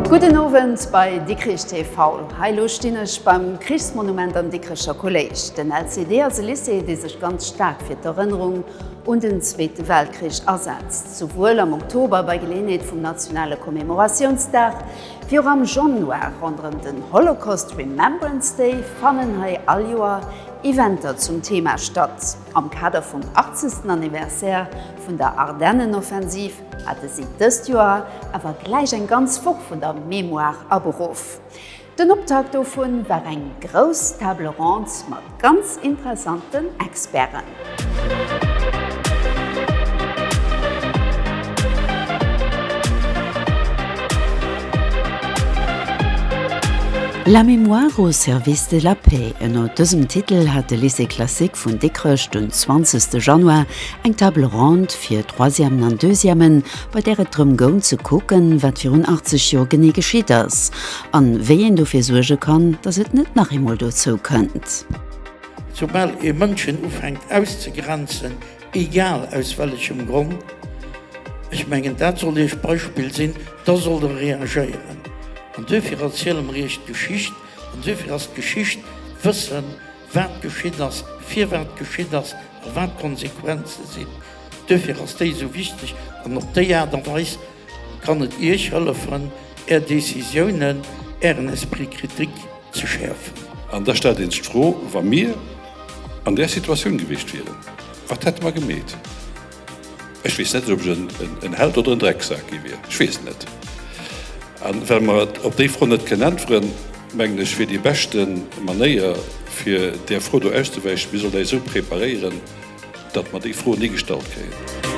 Gudden Owend bei Dikrich TV. Hei lo stinn ech beim Krichsmonument am Dikricher Kolléisch. Den LCD ass e Lycée, dee sech ganz staark fir d'Erënnerung un den Zweete Weltkrich asetzt, souwuel am Oktober bei Geleeënheet vum nationale Commemoratiounsdag, wéi och am Januar ronderëm den Holocaust Remembrance Day, fannen hei all Joer Eventer zum Thema statt. Am Kader vum 80. Anniversaire vun der Ardennenoffensiv hate si dëst Joer awer gläich eng ganz Woch vun der Mémoire aberuff. Den Optakt dovun war eng grouss Table ronde mat ganz interessanten Experten. La mémoire au service de la paix, ënner dësem Titel hat de Lycée classique vun Dikrech den 20 Januar eng Table ronde fir Troisièmen an Deuxièmen bei där et drëm goung ze kucken, wat virun 80 Joer genee geschitt ass an wéi een dofir suerge kann, datt et net nach eemol dozou kënnt. Soubal ee Mënschen ufänkt auszegrenzen, egal aus wellechem Grond, ech mengen dat soll Iech d'Beispill sinn, da sollt Der reagéieren. An duerfir ass hierem Riicht d'Geschicht an duerfir ass d'Geschicht Wëssen, wat geschitt ass, firwat geschitt ass a wat d'Konsequenze sinn. Duerfir ass déi esou wichteg an op déi Aart a Weis kann et Iech hëllefen, Är Decisiounen, Ären Esprit critique ze schäerfen. An da stellt een sech d'Fro, Wa mir an där Situatioun gewiescht wieren, wat hätte mer gemeet? Ech weess net, ob ech en Held oder en Drecksak gi wier. Ech weess et net. A well mer op déi Fro net kënnen äntweren, mengen ech, wier déi beschte Manéier, fir där Fro do auszewäichen, mir sollt äis esou preparéieren, datt mer déi Fro ni gestallt kréien.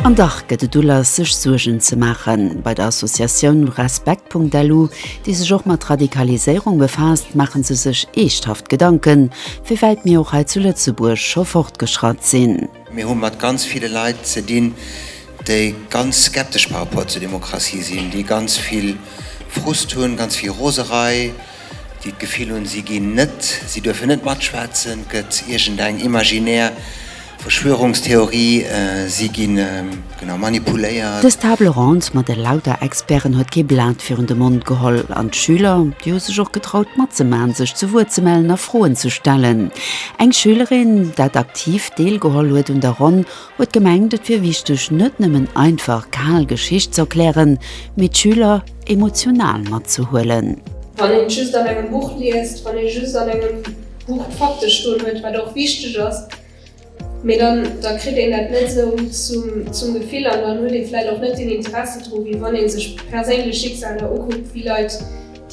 An dach gëtt et Ulass, sech Suergen ze maachen. Bei der Associatioun Respekt.lu, déi sech och mat Radikaliséierung befaasst, maache se sech eeschthaft Gedanken, Wéiwäit mir och hei zu Lëtzebuerg scho fortgeschratt sinn. Mir hu mat ganz ville Leit ze dinn, déi ganz skeptesch par rapport zur Demokratie sinn, déi ganz vill Frust hunn, ganz vill Roserei, déi d'Gefill hunn, si ginn net, si duerfen net matschwätzen, 't gëtt iergendeng imaginär Verschwörungstheorie, si gi genau manipuléiert. Dës Table ronde mat elauter Experten huet kee Blat virun de Mond geholl an d'Schüler, déi hu sech och getraut matzemaachen, sech zu Wuert ze mellen a Froen ze stellen. Eng Schülerin, dat aktiv deelgeholl huet un der Ronn, huet gemengt, et wier wichteg, net nëmmen einfach kal Geschicht ze erklären, mee d'Schüler emotional matzehuelen. Wann een just an engem Buch liest, wann ee just an engem. D'Buch praktesch stoen huet, wat och wichteg ass, mee dann da kritt een dat net sou zum zum Gefill an dann huet ee vläit och net den Interesse dru wéi wann ee sech perséinlech Schicksaler ukuckt wéi Leit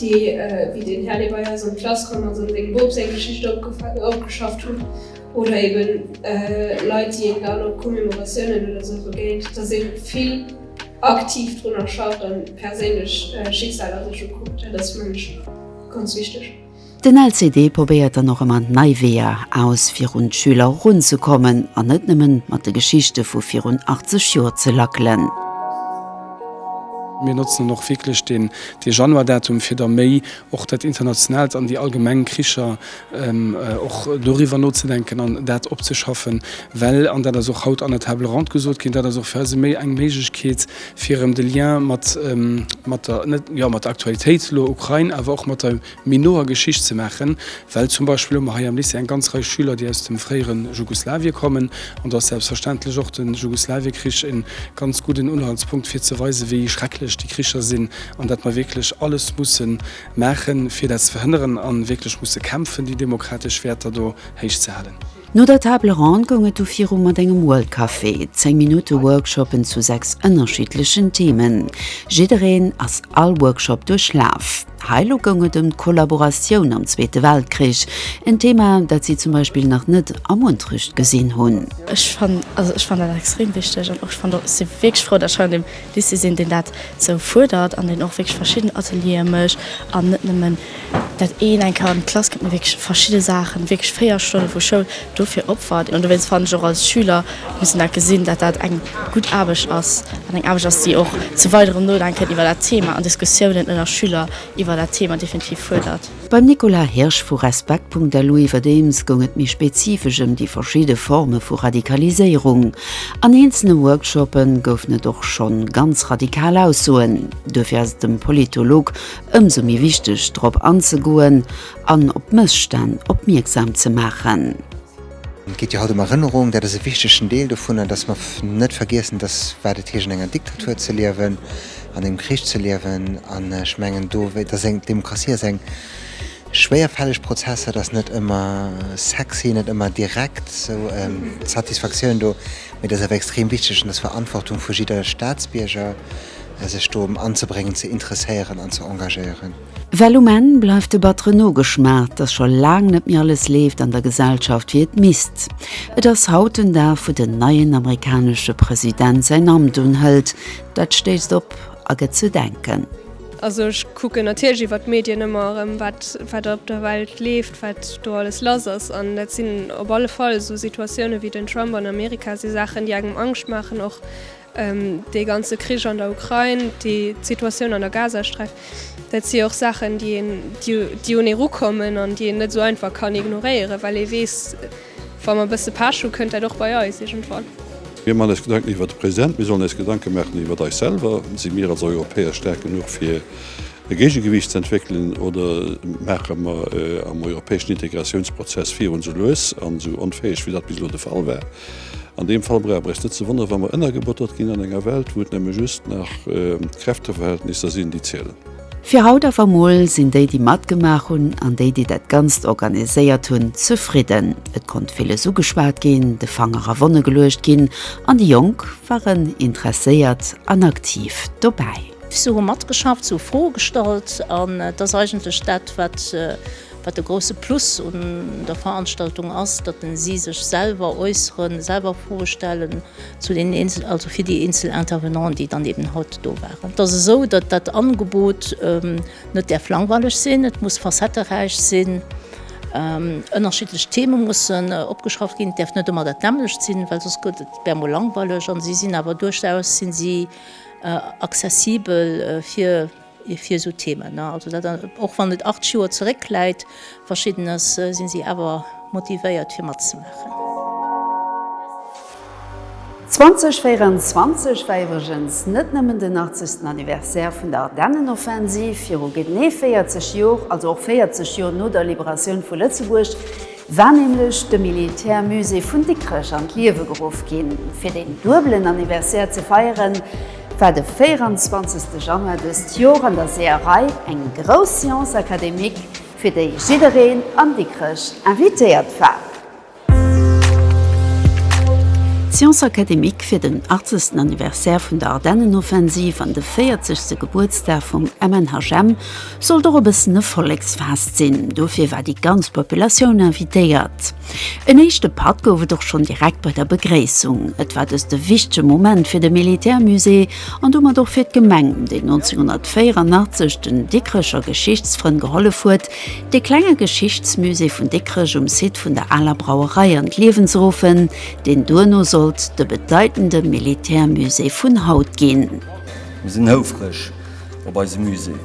déi wéi den Här dee bei eis an d'Klass komm ass an sengem Bop seng Geschicht opgeschafft hunn oder ebe Leit déi een dann op Commemoratiounen oder sou begéint, datt ee vill aktiv drunner schafft an perséinlech Schicksaler sech ukuckt. Dat ass mengen ech ganz wichteg. Den LCD probéiert dann och ëmmer nei Weeër aus, fir un d'Schüler erunzekommen an net nëmmen mat de Geschichte vu virun 80 Joer ze lackelen. Mir notzen och wierklech dee Januar-Datum, fir da méi och dat Internationaalt an déi allgemeng Kricher, och doriwwer nozedenken an dat opzeschaffen. Well, an dat ass och haut an der Table ronde gesot ginn, dat ass och fir eis eng Méiglechkeet, fir erëm de Lien mat der Aktualitéit, elo Ukrain, awer och mat der méi noer Geschicht ze maachen, well zum Beispill hu mer hei am Lycée eng ganz Rei Schüler, déi aus dem fréiere Jugoslawien kommen, an do ass selbstverständlech och de Jugoslawiekrich e ganz gudden Unhaltspunkt, fir ze weisen, wéi schrecklech déi Kricher sinn an datt mer wierklech alles musse maachen, fir dat ze verhënneren, a wierklech musse kämpfen, déi demokratesch Wäerter do héichzehalen. No der Table Ronde goung et du viru mat engem World Café, 10 Minutte Workshoppen zu 6 ënnerschiddlechen Themen. Jiddereen ass all Workshop duerchlaf. Hei lo goung et ëm d'Kollaboratioun am Zweete Weltkrich, en Thema dat si zum Beispill nach net am Unterricht gesinn hunn. Ech fannen, also ech fannen dat extrem wichteg an och ech fannen och, ech si wierklech frou, datt ech hei an deem Lycée sinn, deen dat esou fuerdert an deen och wierklech verschidden Ateliere mécht an net nëmmen dat een eng Kéier an d'Klass kënnt, mee wierklech verschidde Saachen, wierklech véier Stonne vu Schoul dofir opfert. An dowéinst fannen ech och, als Schüler muss een dat gesinn, datt dat eng gutt Aarbecht ass an eng Aarbecht ass, déi och zu weiderem Nodenken iwwer dat Thema an Diskussiounen ënner Schüler iwwer dat Thema definitiv fuerdert. Beim Nicolas Hirsch vu Respekt.lu iwwerdeems goung et méi spezifesch ëm déi verschidde Forme vu Radikaliséierung. An eenzele Workshoppe goufen et och schonn ganz radikal Aussoen. Duerfir ass et dem Politolog ëmsou méi wichteg drop anzegoen an op Mësstänn opmierksam ze maachen. Et geet jo haut ëm Erënnerung, dat ass e wichtegen Deel dovunner, dass mer net vergiessen, dass, wat et heescht an enger Diktatur ze liewen, an engem Krich ze liewen. An ech mengen do, dass eng Demokratie ass eng schwéierfälleg Prozess, dat ass net ëmmer sexy, net ëmmer direkt esou d'Satisfaktioun do, mee dat ass awer extrem wichteg an dat ass d'Verantwortung vu jidder Staatsbierger. sech do anzebréngen, ze interesséieren an ze engagéieren. Well um Enn bleift de battere Nogeschmaach, dass scho laang net méi alles leeft an der Gesellschaft, wéi et misst. Et ass haut den Dag, wou den neien amerikanesche President säin Amt unhëlt. Dat stéisst op a gëtt ze denken. Also ech kucken natierlech iwwer d'Medien ëmmer erëm, wat wat op der Welt leeft, wat do alles lass ass. An dat sinn op alle Fall esou Situatiounen, wéi den Trump an Amerika, si Saachen, déi engem Angscht maachen och. Dee ganze Krich an der Ukrain, déi Situatioun an der Gazasträif, dat si och Saachen, déi een, déi un ee rukommen an déi een net esou einfach kann ignoréieren, well ee weess, wa mer e bësse Pech hu kënnt dat och bei eis iergendwann. Mir maachen eis Gedanken iwwert de President, mir sollen eis Gedanke maachen iwwert eis selwer. Si mir als Europäer staark genuch fir e Géigegewiicht ze entwéckelen oder maache mer am europäeschen Integratiounsprozess virun esou lues an esou onfäeg, wéi dat bis elo de Fall war? An deem Fall brauch mer eis net ze wonneren, wa mer ënnergebottert ginn an enger Welt, wou et nëmme just nach d'Kräfteverhältnisser sinn, déi zielen. Fir haut awer emol sinn déi, déi matgemaach hunn, an déi, déi dat Ganzt organiséiert hunn, zefridden. Et konnt villes ugeschwat ginn, de Fanger a Wonne geluecht ginn an déi Jonk waren interesséiert an aktiv dobäi. Si hu matgeschafft, si hu Froe gestallt an et ass eigentlech dat, wat. Wat de grousse Plus un der Veranstaltung ass, datt si sech selwer äusseren, selwer Froe stellen zu den eenzel, also fir déi eenzel Intervenanten, déi dann eben haut do waren. Et ass esou, datt dat Angebot net däerf langweileg sinn, et muss facetteräich sinn, ënnerschiddlech Theme mussen opgeschafft ginn, et däerf net ëmmer dat nämmlecht sinn, well soss gëtt et, wär mol langweileg. A si sinn awer duerchaus, si si accessibel fir. fir esou Themen. Also dat och wann et 8 Joer zeréck läit, verschidden ass, sinn si awer motivéiert fir matzemaachen. 2024 war iwwregens net nëmmen den 80. Anniversaire vun der Ardennenoffensiv viru genee 40 Joer, also och 40 Joer no der Liberatioun vu Lëtzebuerg. war nämlech de Militärmusée vun Dikrech an d'Liewe geruff ginn. Fir deen duebelen Anniversaire ze feieren, war de 24 Januar dëst Joer an der Seeërei eng grouss Séance académique, fir déi jiddereen an Dikrech invitéiert war. D'Séance académique fir den 80. Anniversaire vun der Ardennenoffensiv an de 40. Gebuertsdag vum MNHM Sollt och e bëssen e Volleksfest sinn, dofir war déi ganz Populatioun invitéiert. En éischte Patt gouf et och schonn direkt bei der Begréissung. Et war dëst e wichtege Moment fir de Militärmusée an domat och fir d'Gemeng, déi 1984 den Dikrecher Geschichtsfrënn gehollef huet, dee klenge Geschichtsmusée vun Dikrech um Site vun der aler Brauerei an d'Liewen ze ruffen, deen duerno sollt de bedeitende Militärmusée vun haut ginn. Mir sinn houfreg, op eise Musée.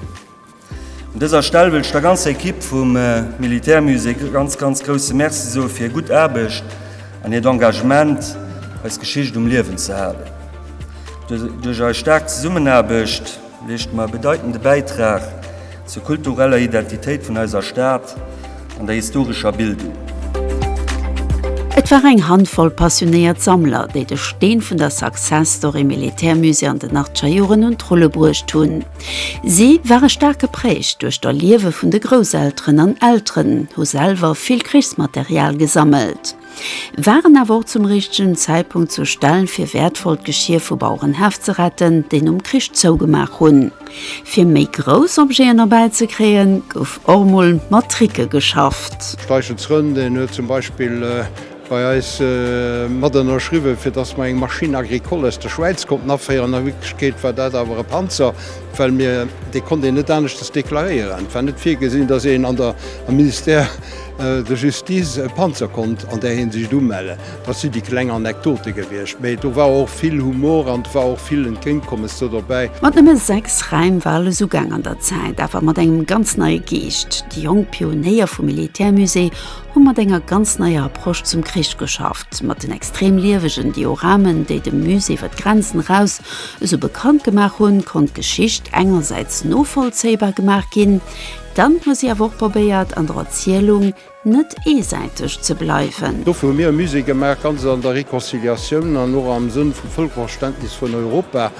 Un dëser Stell wëll ech der ganzer Ekipp vum Militärmusée e ganz, ganz grousse Merci soe fir hir gutt Aarbecht an hiert Engagement, eis Geschicht um Liewen ze halen. Duerch eis staark Zesummenaarbecht leeschte mer e bedeitende Bäitrag zur kultureller Identitéit vun eiser Stad. An der historescher Bildung. Et war eng Handvoll passionéiert Sammler, déi de Steen vun der Success Story Militärmusée an den Achtgerjoren un d'Rulle bruecht hunn. Si ware staark geprägt duerch d'Erliewe vun de Grousselteren an Elteren hu selwer vill Krichsmaterial gesammelt. waren awer och zum richtegen Zäitpunkt zu Stellen fir wäertvollt Geschier vu Bauerenhäff ze retten, déi nom Krich zougemaach hunn. Fir méi grouss Objeten erbäi ze kréien, gouf och mol mat Tricke geschafft. Steichen zrënn, deen huet zum Beispill bei eis mat ënnerschriwwen, fir dass mer eng Machine agricole aus der Schwäiz konnten aféieren. A Wierklechkeet war dat awer e Panzer, well mir dee konnt een net aneschters deklaréieren. Et war net virgesinn, dass een am Ministère Der Justice e Panzer konnt an där Hinsicht umellen. Dat si déi kleng Anekdote gewiescht, mee do war och vill Humor an et war och vill Entgéintkommes do dobäi. Mat nëmme sechs Räim war alles ugaang an der Zäit, awer mat engem ganz neie Geescht. Déi jonk Pionéier vum Militärmusée hu mat enger ganz neier Approche zum Krich geschafft, mat den extrem liewegen Dioramen, déi de Musée iwwer d'Grenzen eraus esou bekannt gemaach hunn, konnt d'Geschicht engersäits novollzéibar gemaach ginn, Dann hu si awer och probéiert, an der Erzielung net eesäiteg ze bleiwen. Dofir hu mir e Musée gemaach, ganz an der Reconciliatioun an och am Sënn vum Vëlkerverständnis vun Europa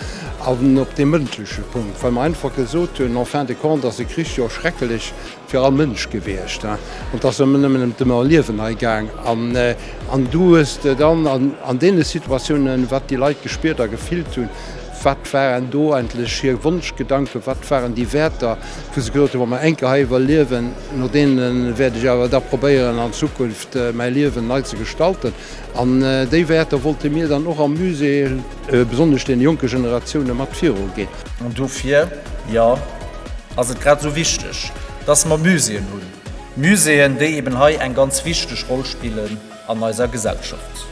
an op deem mëndleche Punkt, well mer einfach gesot hunn, en fin de compte ass e Krich jo schrecklech fir all Mënsch gewiescht an et ass ëmmer nëmmen ëm d'Ëmmerliewen hei gaang. An du hues dann an deene Situatiounen, wat déi Leit gespiert a gefillt hunn, Wat waren do eigentlech hir Wonschgedanken? Wat waren déi Wäerter, wou se gesot hunn, wa mer eng Kéier hei iwwerliewen, no deene wäert ech awer da probéieren an Zukunft mäi Liewen nei ze gestalten? An déi Wäerter wollte mir dann och am Musée besonnesch deene jonke Generatioune mat viru ginn. An dofir, jo, ass et grad esou wichteg, dass mer Muséeën hunn. Muséeën, déi eben hei eng ganz wichteg Roll spillen an eiser Gesellschaft.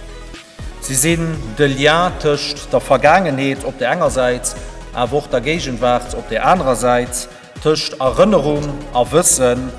Si sinn de Lien tëscht der Vergaangenheet op der enger Säit, awer och der Géigenwaart op där anerer Säit, tëscht Erënnerung a Wëssen,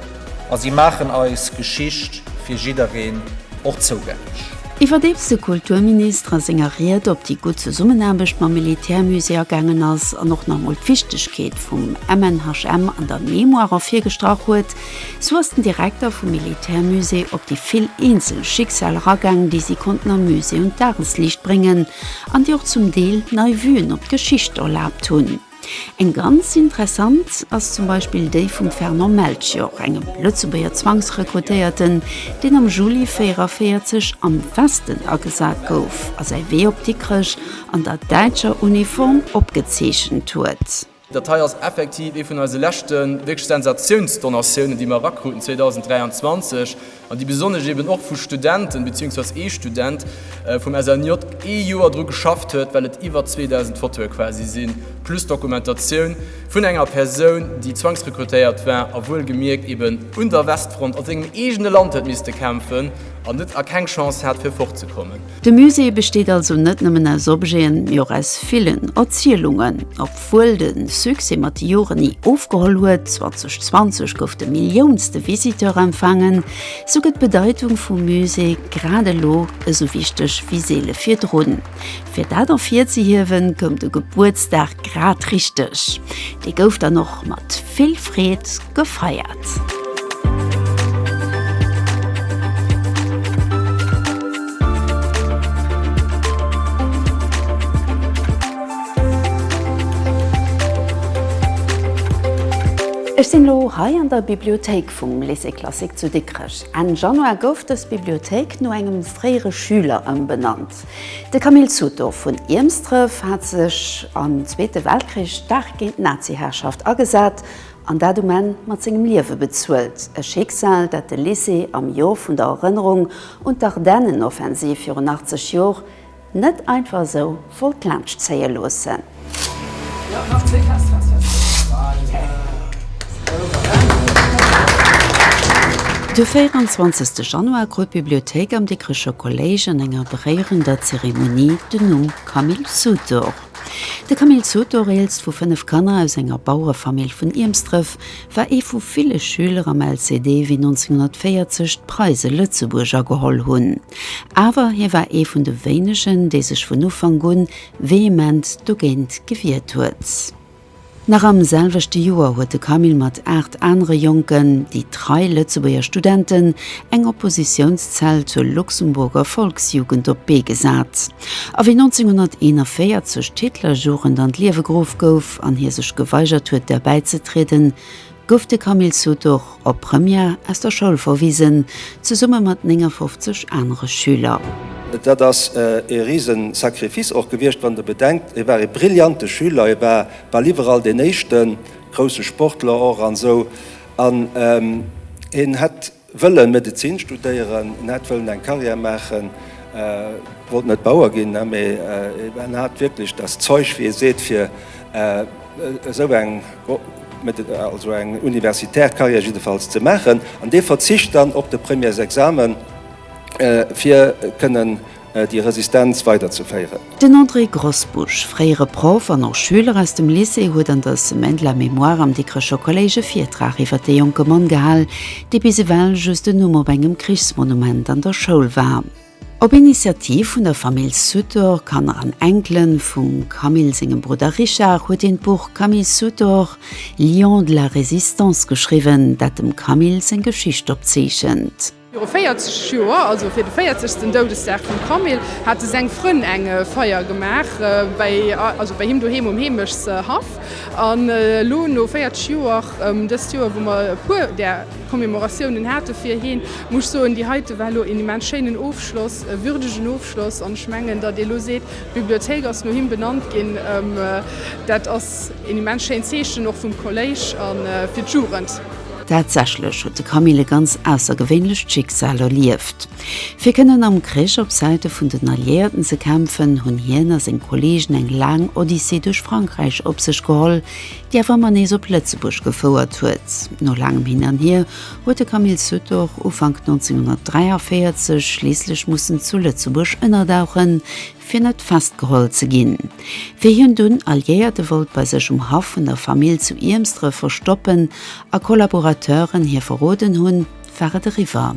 a si maachen eis Geschicht fir jiddereen och zougänglech. Iwwerdeems de Kulturminister a senger Ried op déi gutt Zesummenaarbecht mam Militärmusée agaangen ass an och nach emol d'Wichtegkeet vum MNHM an der Mémoire ervirgestrach huet, Sou ass den Direkter vum Militärmusée op déi vill eenzel Schicksal eragaang, déi si konnten am Musée un d'Dagesliicht bréngen an déi och zum Deel nei Vuen op d'Geschicht erlaabt hunn. Eng ganz interessant ass zum Beispill déi vum Fernand Melchior, engem Lëtzebuerger Zwangsrekrutéierten, deen am Juli 44 am Westen agesat gouf a säi Wee op Dikrech an der däitscher Uniform opgezeechent huet. Dat hei ass effektiv ee vun eise leschte wierklech Sensatiounsdonatiounen, déi mer erakruten 2023 an déi besonnesch eeben och vu Studenten, beziehungsweise ee Student vum SNJ ee Joer dru geschafft huet, well et iwwer 2.000 Fotoe quasi sinn, plus Dokumentatioun vun enger Persoun, déi zwangsrekrutéiert war a wuel gemierkt eeben un der Westfront a sengem eegene Land huet misste kämpfen an net a keng Chance hat, fir fortzekommen. De Musée besteet also net nëmmen aus Objeten, mee och aus villen Erzielungen. Obwuel de Succès mat de Joren ni ofgeholl huet, 2020 gouf de milliounste Visiteur empfaangen, sou gëtt d'Bedeitung vum Musée grad elo esou wichteg wéi seele virdrun. Fir dat ervirzehiewen, koum de Gebuertsdag grad richteg. Dee gouf dann och mat vill Freed. gefeiert. Ech sinn elo hei an der Bibliothéik vum Lycée Classique zu Dikrech. Enn Januar gouf dës Bibliothéik no engem fréiere Schüler ëmbenannt. De Camille Sutor vun Iermsdref hat sech am Zweete Weltkrich staark géint d'Nazi-Herrschaft agesat an dat um Enn mat sengem Liewe bezuelt, e Schicksal, dat de Lycée am Jor vun der Erënnerung un d'Ardennenoffensiv virun 80 Jor net einfach esou wollt laanscht zéie loossen. De 24 Januar krut d'Bibliothéik am Dikricher Kolléisch an enger beréierender Zeremonie den Numm Camille Sutor. De Camille Sutor, eelst vu fënnef Kanner aus enger Bauerefamill vun Iermsdref, war ee vu ville Schüler am LCD wéi 1940 d'Preise Lëtzebuerg ageholl hunn. Awer hie war ee vun de wéinegen, dee sech vun Ufank un vehement dogéint gewiert huet. Nach am selwechte Joer huet de Camille mat aacht anere Jonken, déi trei Lëtzebuerger Studenten, eng Oppositiounszell zur Luxemburger Volksjugend op d'Bee gesat. A wéi 1941 d'Hitlerjugend an d'Liewe geruff gouf an hie sech geweigert huet derbäizetrieden, gouf de Camille Sutor op Première aus der Schoul verwisen, zesumme mat 59 anere Schüler. Dat ass ee rise Sacrifice och gewiescht, wann Der bedenkt, hie war ee brillante Schüler, hie war bal iwwerall deen Éischten, grousse Sportler och an esou, an hien hätt, Wëllen Medezin studéieren, en hat wëllen eng Carrière maachen, wollt net Bauer ginn, mee en hat wierklech das Zeug, wéi ee seet, fir esou eng, also eng universitär Carrière jiddefalls ze maachen. An dee verzicht dann op de Premièresexamen, fir kënnen. déi Resistenz weiderzeféieren. Den André Grosbusch, fréiere Proff an och Schüler aus dem Lycée, huet an der Semaine de la Mémoire am Dikrecher Kolléisch e Virtrag iwwert dee jonke Mann gehal, dee bis ewell just en Numm op engem Krichsmonument an der Schoul war. Op Initiativ vun der Famill Sutor, Kanner an Enkelen, vum Camille sengem Brudder Richard, huet een d'Buch Camille Sutor, Lion de la Résistance geschriwwen, dat dem Camille seng Geschicht opzeechent. Viru 40 Joer, also fir de 40. Doudesdag vum Camille, hate seng Frënn eng Feier gemaach bei him doheem um Heemechtshaff. An elo no 40 Joer, dëst Joer, wou mer e puer där Commémoratiounen hate fir hien, muss ech soen, déi heite war elo een immens schéinen Ofschloss, e würdegen Ofschloss. An ech mengen, datt ee elo seet, d'Bibliothéik ass no him benannt ginn, dat ass een immens schéint Zeechen och vum Kolléisch a fir d'Jugend. Tatsächlech huet de Camille e ganz aussergewéinlecht Schicksal erlieft. Fir kënnen am Krich op Säite vun den Alliéierten ze kämpfen, hunn hien a seng Kolleegen eng laang Odyssee duerch Frankräich op sech geholl, déi awer ëmmer nees op Lëtzebuerg gefouert huet. No laangem Hin an Hier huet de Camille Sutor Ufank 1943 schliisslech mussen zu Lëtzebuerg ënnerdauchen, fir net festgeholl ze ginn. Wéi hien dunn Alliéierte wollt bei sech um Haff vun der Famill zu Iermsdref verstoppen a Kollaborateuren hie verroden hunn, war et eriwwer.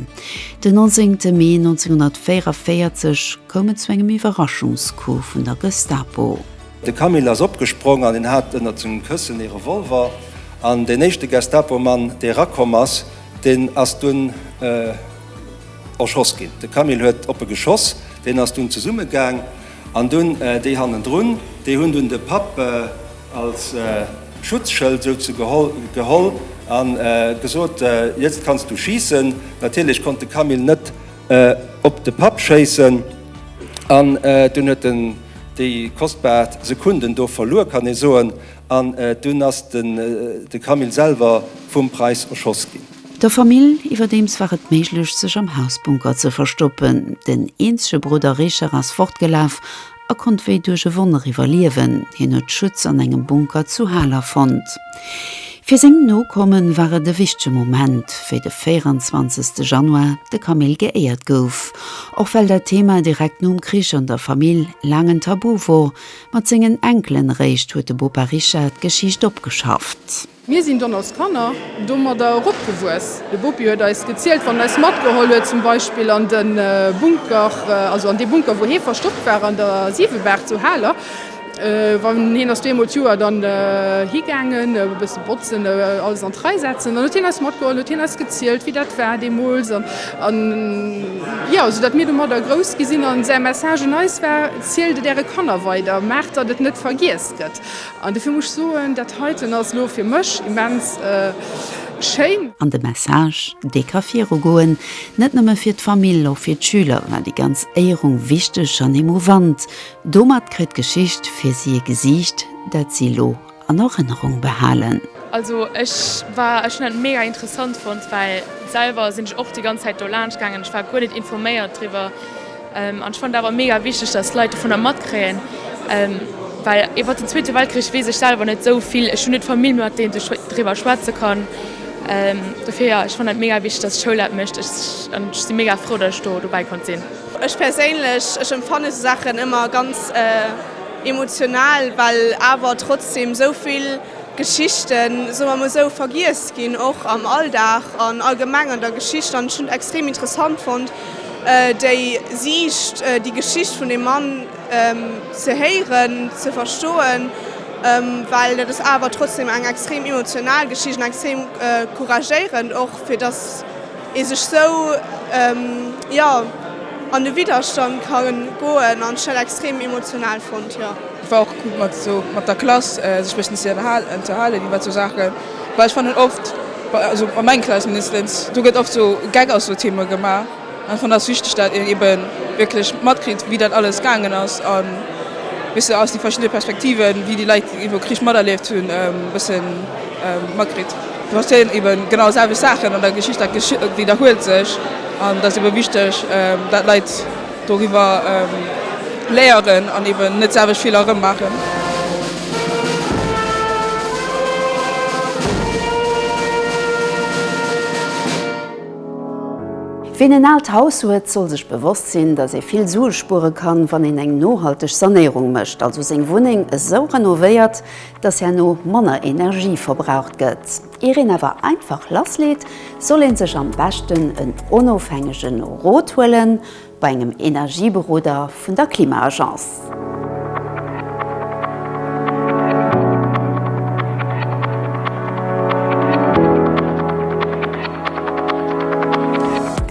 Den 19 Mee 1944 koum et zu engem Iwwerraschungscoup vun der Gestapo. De Camille ass opgesprong an en hat ënnert sengem Këssen ee Revolver. An deen éischte Gestapomann, dee erakomm ass, deen ass dunn. Erschoss ginn. De Camille huet op e geschoss, deen ass dunn zesumme gaang an dunn déi hannendrun, déi hunn dunn de Papp als Schutzschëld souze geholl a gesot, Jetzt kannst du schießen. Natierlech konnt de Camille net op de Papp schéissen an dunn huet en déi kostbar Sekunden do verluer, kann ee soen, an dunn ass de Camille selwer vum Preiss erschoss ginn. Der Famill iwwerdeems war et méiglech, sech am Hausbunker ze verstoppen. Den eenzege Brudder Richard ass fortgelaf a konnt wéi duerch e Wonner iwwerliewen. Hien huet Schutz an engem Bunker zu Haler fonnt. Fir seng Nokomme war et e wichtege Moment, wéi de 24 Januar de Camille geéiert gouf. Och well dat Thema direkt nom Krich an der Famill laang en Tabu wor, mat sengen Enkelen eréischt huet de Bopa Richard d'Geschicht opgeschafft. Mir sinn dann als Kanner domadder eropgewuess. De Bopi huet eis gezielt, wann en eis matgeholl huet, zum Beispill an de Bunker, also an dee Bunker, wou hie verstoppt war an der Siewebaach zu Haler. Wann hien ass do eemol d'Joer dann higaangen, e bësse botzen, alles an d'Rei setzen. Dann huet hien eis matgeholl, huet hien eis gezielt, wéi dat war deemools. An, an, jo, esou datt mir domadder grouss gi sinn. A säi Message un eis war, Zielt et äre Kanner weider, maacht, datt et net vergiess gëtt. An dofir muss ech soen, dat heiten ass elo fir mech immens schéin. An de Message, dee ka virugoen, net nëmme fir d'Famill, och fir d'Schüler war déi ganz Éierung wichteg an emouvant. Domat kritt d'Geschicht fir si e Gesiicht, dat si elo an Erënnerung behalen. Also ech war, ech hunn dat mega interessant fonnt, well selwer sinn ech och déi ganz Zäit do laanscht gaangen, ech war guer net informéiert driwwer. An ech fannen et awer mega wichteg, dass d'Leit dovun da matkréien, well iwwert den Zweete Weltkrich weess ech selwer net esou vill. Ech hunn net d'Famill, mat deem ech driwwer schwätze kann. Dofir jo, ech fannen dat mega wichteg, dass d'Schoul dat mécht. Ech si mega frou, dass ech do dobäi konnt sinn. Ech perséinlech, ech empfannen esou Saachen ëmmer ganz emotional, well awer trotzdeem esou vill. Geschichten, soe mer emol esou, vergiess ginn, och am Alldag an allgemeng an der Geschicht. An ech hunn et extrem interessant fonnt, déi Siicht, déi Geschicht vun deem Mann ze héieren, ze verstoen, well dat ass awer trotzdem eng extrem emotional Geschicht an extrem couragéierend och, fir dass ee sech sou jo an de Widderstand ka goen an ech hat dat extrem emotional fonnt jo. Et war och cool mat sou mat der Klass sech bëssen ze ënnerhalen iwwer sou Saachen, well ech fannen oft also bei meng Klass mindestens do gëtt oft sou Geck aus sou Theme gemaach an ech fannen ass wichteg dat een eben wierklech matkritt wéi dat alles gaangen ass a wéis se aus déi verschidde Perspektiven wéi déi Leit iwwer Krich materlieft hunn bëssen matkritt. Et passéieren eben genau déi selwecht Saachen an der Geschicht, dat widderhuelt sech an et ass eben wichteg, dat d'Leit doriwwer léieren an eben net d'selwecht Feeler erëm maachen. Ween en aalt Haus huet, soll sech bewosst sinn, dass ee vill Sue spuere kann, wann een eng nohalteg Sanéierung mécht, also seng Wunneng esou renovéiert, dass herno manner Energie verbraucht gëtt. Ier een awer einfach lassleet, soll ee sech am beschten en onofhängege Rot huele bei engem Energieberoder vun der Klima-Agence.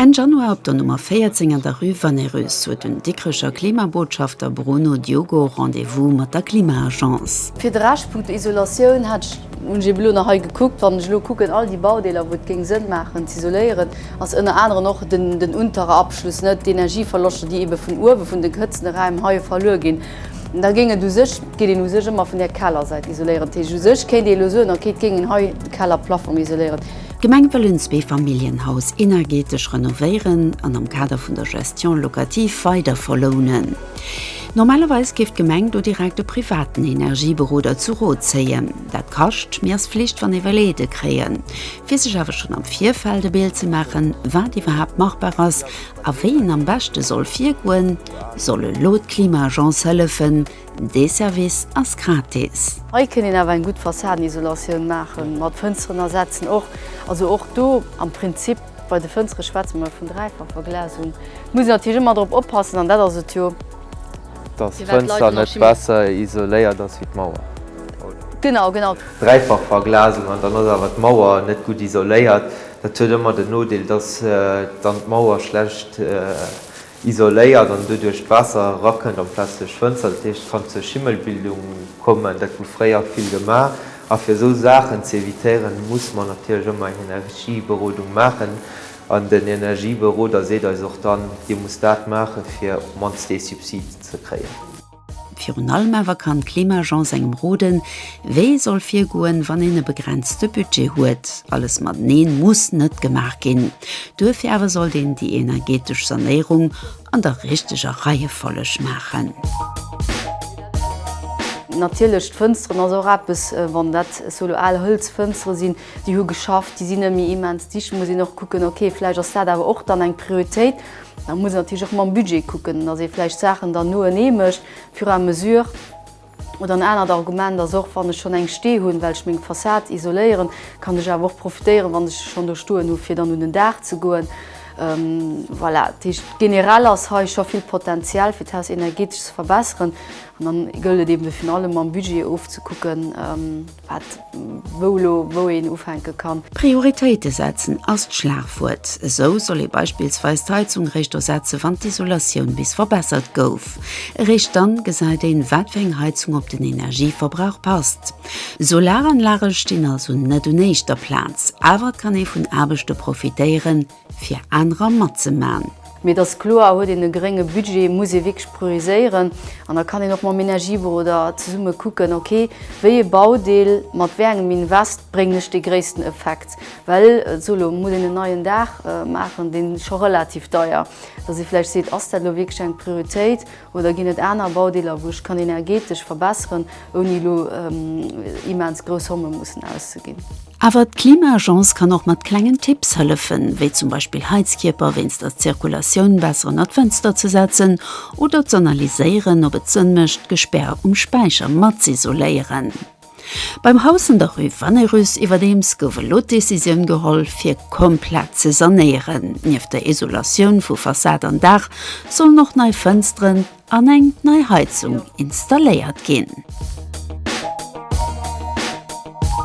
Enn Januar op der Nummer 14 an der Rue Vannerus huet den Dikrecher Klimabotschafter Bruno Diogo Rendez-vous mat der Klima-Agence. Fir de Rescht, Punkto Isolatioun, hat ech, hunn ech eben elo nach hei gekuckt, wann ech elo kucken, all déi Baudeeler, wou et géing Sënn maachen z'isoléieren, ass ënner anerem och den unterer Abschluss, net d'Energieverloschter, déi ebe vun uewe vun de gehëtzten Räim heie verluer ginn. Da géing et u sech, et geet een u sech ëmmer vun där Kellersäit isoléieren. Dat heescht, u sech kéint ee elo soen, okay, et géing een hei de Kellerplafong isoléieren. D'Gemeng wëllen d'Zweefamilljenhaus energeetesch renovéieren an am Kader vun der Gestion locative weider verlounen. Normalerweis géif d'Gemeng do direkt e privaten Energieberoder zu Rot zéien. Dat kascht, mee ass Flicht wann ee wëll Aide kréien. Fir sech awer schonn am Virfeld e Bild ze maachen, wat iwwerhaapt machbar ass a wéi een am beschte soll virgoen, soll elo d'Klima-Agence hëllefen. Dee Service ass gratis. Hei kéint een awer eng gutt Fassaden-Isolatioun maachen, mat Fënsteren ersetzen och. Also och do am Prinzip Bei de Fënstere schwätze mer vun Dräifachverglasung. Muss een natierlech ëmmer drop oppassen, an dat ass et jo. Datt d'Fënster net besser isoléiert ass wéi d'Mauer, oder? Genau, genau. Dräifachverglasung an dann ass awer d'Mauer net gutt isoléiert. Dat huet ëmmer den Nodeel, datt dann d'Mauer schlecht. isoléiert an doduerch d'Waasser erakënnt an d'Plaz duerch Fënster, dat heescht et kann zur Schimmelbildung kommen, dat hu fréier vill gemaach. A fir esou Saachen ze evitéieren, muss mer natierlech ëmmer eng Energieberodung maachen an den Energieberoder seet eis och dann, Dir musst dat maachen, fir op d'mannst dee Subsid ze kréien. Virun allem awer kann d'Klimaagence engem roden, wéi ee soll virgoen, wann een e begrenzte Budget huet. Alles mateneen muss net gemaach ginn. Duerfir awer sollt een déi energeetesch Sanéierung an der richteger Reiefolleg maachen. Natierlech, d'Fënsteren ass och eppes. Wann dat esou elo al Hëlzfënstere sinn, déi hu geschafft, déi sinn net méi immens dicht, muss een och kucken, okay, vläicht ass dat awer och dann eng Prioritéit. Da muss een natierlech och mam Budget kucken, dass ee vläicht d'Saachen dann noenee mécht, au fur et à mesure. Oder en anert Argument ass och, Wann ech schonn eng stee hunn, well ech meng Fassad isoléieren, kann ech awer och profitéieren, wann ech se schonn do stoen hu fir dann un den Daach ze goen. Voilà, dat heescht generell ass hei scho vill Potenzial fir d'Haus energeetesch ze verbesseren. An dann gëllt et eben virun allem mam Budget ofzekucken, Wat, wou elo, wou een ufänke kann. Prioritéite setzen ass d'Schlagwuert. Esou soll ee beispillsweis d'Heizung eréischt ersetze wann d'Isolatioun bis verbessert gouf. Eréischt dann gesäit een, wat fir eng Heizung op den Energieverbrauch passt. Solaranlage stinn also net un éischter Plaz, awer et kann ee vun Aarbechte profitéieren, fir anerer matzemaen. Mee et ass kloer, huet een e grénge Budget, muss ee wierklech prioriséieren. An da kann een och mam Energieberoder zesumme kucken, ok, wéi ee Baudeel mat wéi engem Invest bréngen ech dee gréissten Effekt. Well so elo muss een en neien Daach maachen, dee scho relativ deier, dass ee vläicht seet, ass dat elo wierklech eng Prioritéit Oder ginn et aner Baudeeler, wou ech kann energeetesch verbesseren, ouni elo immens grouss Somme mussen auszeginn? Awer d'Klima-Agence kann och mat klengen Tipps hëllefen, wéi zum Beispill Heizkierper wéinst der Zirkulatioun besser ënnert d'Fënster ze setzen oder z'analyséieren, ob et Sënn mécht, d'Gespär um Späicher mat z'isoléieren. Beim Haus an der Rue Vannerus iwwerdeems gouf elo d'Decisioun geholl, fir komplett ze sanéieren. Nieft der Isolatioun vu Fassad an Daach sollen och nei Fënsteren an eng nei Heizung installéiert ginn.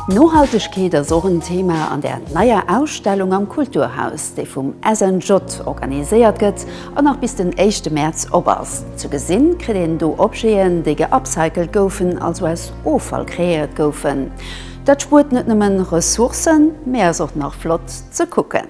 Nohaltegkeet ass och en Thema an der neier Ausstellung am Kulturhaus, déi vum SNJ organiséiert gëtt An nach bis den éischte Mäerz op ass. Ze gesinn kritt een do Objeten, déi geupcycelt goufen, also aus Offall kreéiert goufen. Dat spuert net nëmmen Ressourcen, mee ass och nach flott ze kucken.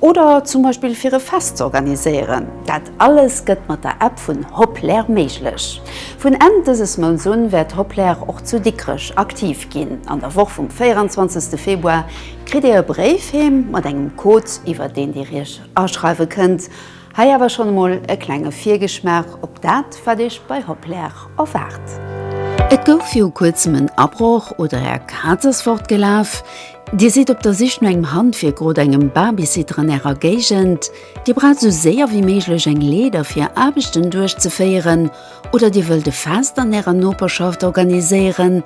Oder zum Beispill fir e Fest ze organiséieren. Dat alles gëtt mat der App vun Hoplr méiglech. Vun Enn dëses Mounts un wäert Hoplr och zu Dikrech aktiv ginn. An der Woch vum 24 Februar kritt Dir e Bréif heem mat engem Code iwwer deen Dir Iech aschreiwe kënnt. Hei awer schonn emol e klenge Virgeschmaach op dat wat Iech bei Hoplr erwaart. Et gouf viru kuerzem en Abroch oder Är Kaz ass fortgelaf? Dir sidd op der Sich no engem Handwierk oder engem Babysitter an Ärer Géigend? Dir braucht esou séier wéi méiglech eng Leeder fir Är Aarbechten duerchzeféieren? Oder Dir wëllt e Fest an Ärer Noperschaft organiséieren?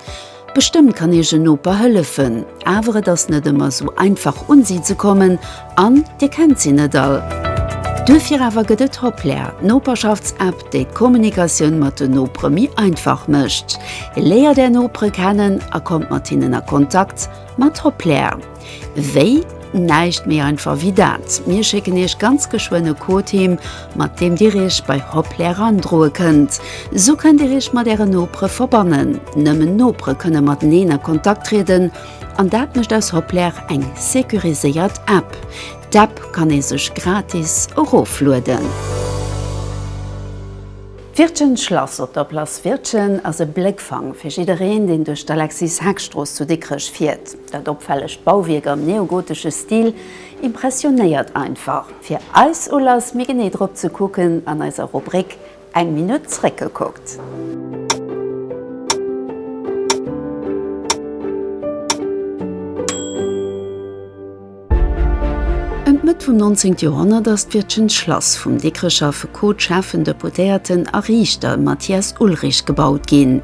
Bestëmmt kann Iech en Noper hëllefen, awer et ass net ëmmer esou einfach un si ze kommen. An Dir kennt si net all. Duerfir awer gëtt et Hoplär, d'Noperschafts-App, déi d'Kommunikatioun mat den Nopere méi einfach mécht. Léiert Är Nopere kennen a kommt mat hinnen a Kontakt mat Hoplär. Wéi? Näischt méi einfach wéi dat, mir schécken Iech ganz geschwënn e Code heem, mat deem Dir Iech bei Hoplär erandroe kënnt. Sou kënnt Dir Iech mat Ären Nopere verbannen. Nëmmen Nopere kënne mateneen a Kontakt trieden. An dat mécht aus Hoplr eng securiséiert App. D'App kann ee sech gratis eroflueden. D'Wirtgen Schlass op der Place Wirtgen ass e Bléckfang fir jiddereen, deen duerch d'Alexis-Heck-Strooss zu Dikrech fiert. Dat opfällegt Bauwierk am neogotesche Stil impressionéiert einfach. Fir eis Ulass, méi genee drop ze kucken an eiser Rubrik Eng Minutt zréckgekuckt. Ëm d'Mëtt vum 19 Joerhonnert ass d'Wirtschent Schlass vum Dikrecher Affekot, Schäffen, Deputéierten a Riichter Mathias Ullrich gebaut ginn.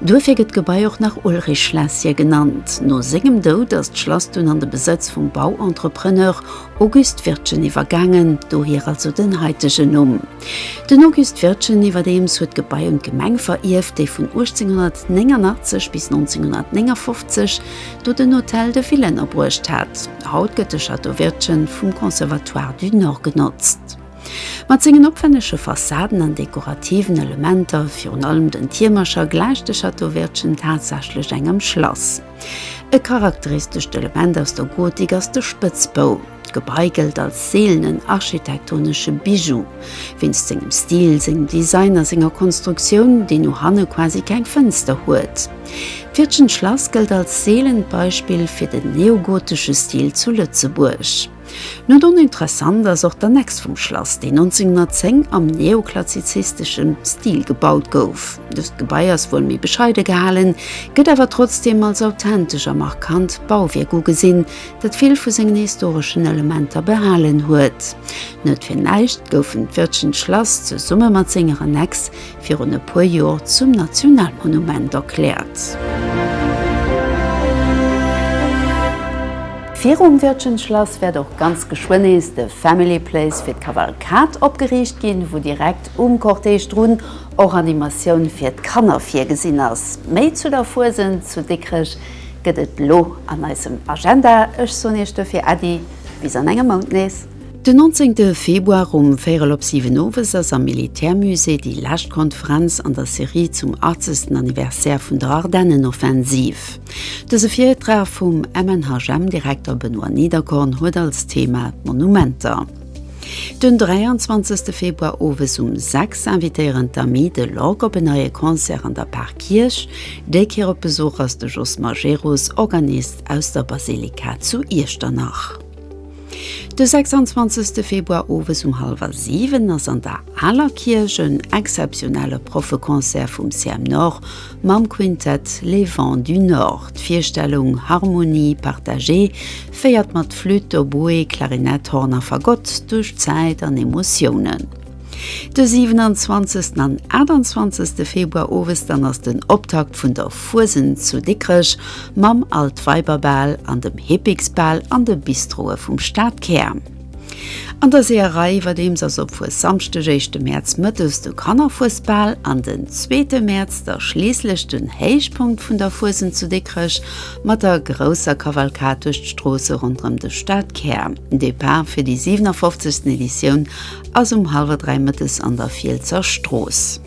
Duerfir gëtt d'Gebai och nach Ullrich-Schlässchen genannt. No sengem Doud ass d'Schlass dunn an de Besëtz vum Bauentrepreneur Auguste Wirtgen iwwergaangen, dohier also den haitegen Numm. Den Auguste Wirtgen iwwerdeems huet d'Gebai un d'Gemeng verierft, déi vun 1889 bis 1959 do den Hôtel de Ville ënnerbruecht hat. Haut gëtt de Château Wirtgen vum Conservatoire du Nord genotzt. Mat sengen opwännege Fassaden an dekorativen Elementer, virun allem den Tiermercher, gläicht de Château Wirtgen tatsächlech engem Schlass. E charakteristescht Element aus der Gotik ass de Spëtzbou. D'Gebai gëllt als seelenen architektonesche Bijou, wéinst sengem Stil, sengem Design a senger Konstruktioun, déi no hanne quasi keng Fënster huet. D'Fiirtgen Schlass gëllt als seelent Beispill fir den neogotesche Stil zu Lëtzebuerg. Net oninteressant ass och d'Annex vum Schlass, déi 1910 am neoklazizisteschem Stil gebaut gouf. Dëst Gebai ass wuel méi bescheide gehalen, gëtt awer trotzdeem als authentesch a markant Bauwierk ugesinn, dat vill vu sengen historeschen Elementer behalen huet. Net fir näischt goufen d'Wirtschenschlass zesumme mat senger Annex virun e puer Joer zum Nationalmonument erkläert. Virum Wirtschenschlass wäert och ganz geschwënn nees de Family Place fir d'Kavalkad opgeriicht ginn, wou direkt um Cortège drun och Animatioun fir d'Kanner virgesinn ass. Méi zu der Fuesent zu Dikrech gëtt et lo an eisem Agenda. Ech soen Iech dofir Äddi bis an engem Mount nees. Den 19 Februar um véirel op siwen owes ass am Militärmusée déi lescht Konferenz an der Serie zum 80. Anniversaire vun der Ardennenoffensiv. Dëse Virtrag vum MNHM-Direkter Benoît Niederkorn huet als Thema d'Monumenter. Den 23 Februar owes um sechs invitéieren d'Amis de l'Orgue op en neie Concert an der Parkierch. Déi Kéier op Besuch ass de Jos Majerus, Organist aus der Basilika zu Iechternach. De 26 Februar owes um hallwer 7 ass an der Aler Kierch en exzeptionelle Proffeconcert vum CM Nord mam Quintett Les Vents du Nord. D'Virstellung Harmonie partagée féiert mat Flütt, Oboe, Klarinett, Horn a Fagott duerch Zäit an Emotiounen. De 27 an 28 Februar owes dann ass den Optakt vun der Fuesent zu Dikrech mam Altweiberbal an dem Hippiksbal an de Bistroe vum Stadkär. An der Seeërei iwwerdeems ass op Fuessamschdeg, éischte Mäerz, mëttes de Kannerfuesbal an den zweete Mäerz da schliisslech den Héichpunkt vun der Fuesent zu Dikrech mat der grousser Kavalkad duerch d'Stroosse ronderëm de Stadkär, Depart fir déi 57. Editioun ass um hallwer 3 mëttes an der Fielsser Strooss.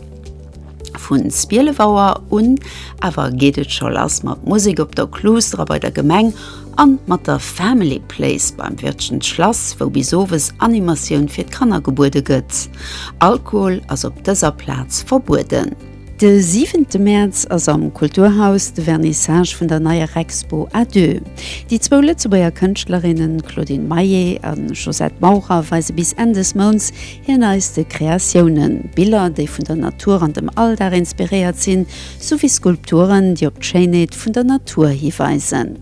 Vun 12 Auer un awer geet et scho lass mat Musek op der Clusdra bei der Gemeng an mat der Family Place beim Wirtschens Schlass, wou bis owes Animatioun fir d'Kanner gebuede gëtt. Alkohol ass op dëser Plaz verbueden. De siwente Mäerz ass am Kulturhaus de Vernissage vun der neier Expo à deux. Déi zwou Lëtzebuerger Kënschtlerinnen Claudine Maillet a Josette Maurer weise bis Enn des Mounts hir neiste Kreatiounen, Biller, déi vun der Natur an dem Alldag inspiréiert sinn, souwéi Skulpturen, déi op d'Schéinheet vun der Natur hiweisen.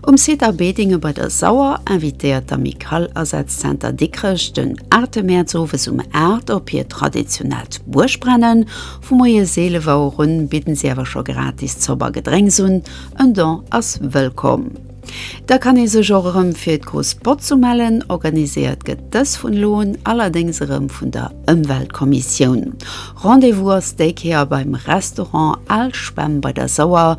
Um Site A Bedinge bei der Sauer invitéiert d'Amicale Asazenter Dikrech den 8 Mäerz owes um 8 op hiert traditionellt Buergbrennen. Vu moies 11 Auer un bidden si awer scho gratis Zopp a Gedrénks un. En Don ass wëllkomm. Da kann ee sech och erëm fir d'Grouss Botz umellen. Organiséiert gëtt dës vun elo un allerdéngs erëm vun der Ëmweltkommissioun. Rendez-vous ass déi Kéier beim Restaurant Al Spemm bei der Sauer.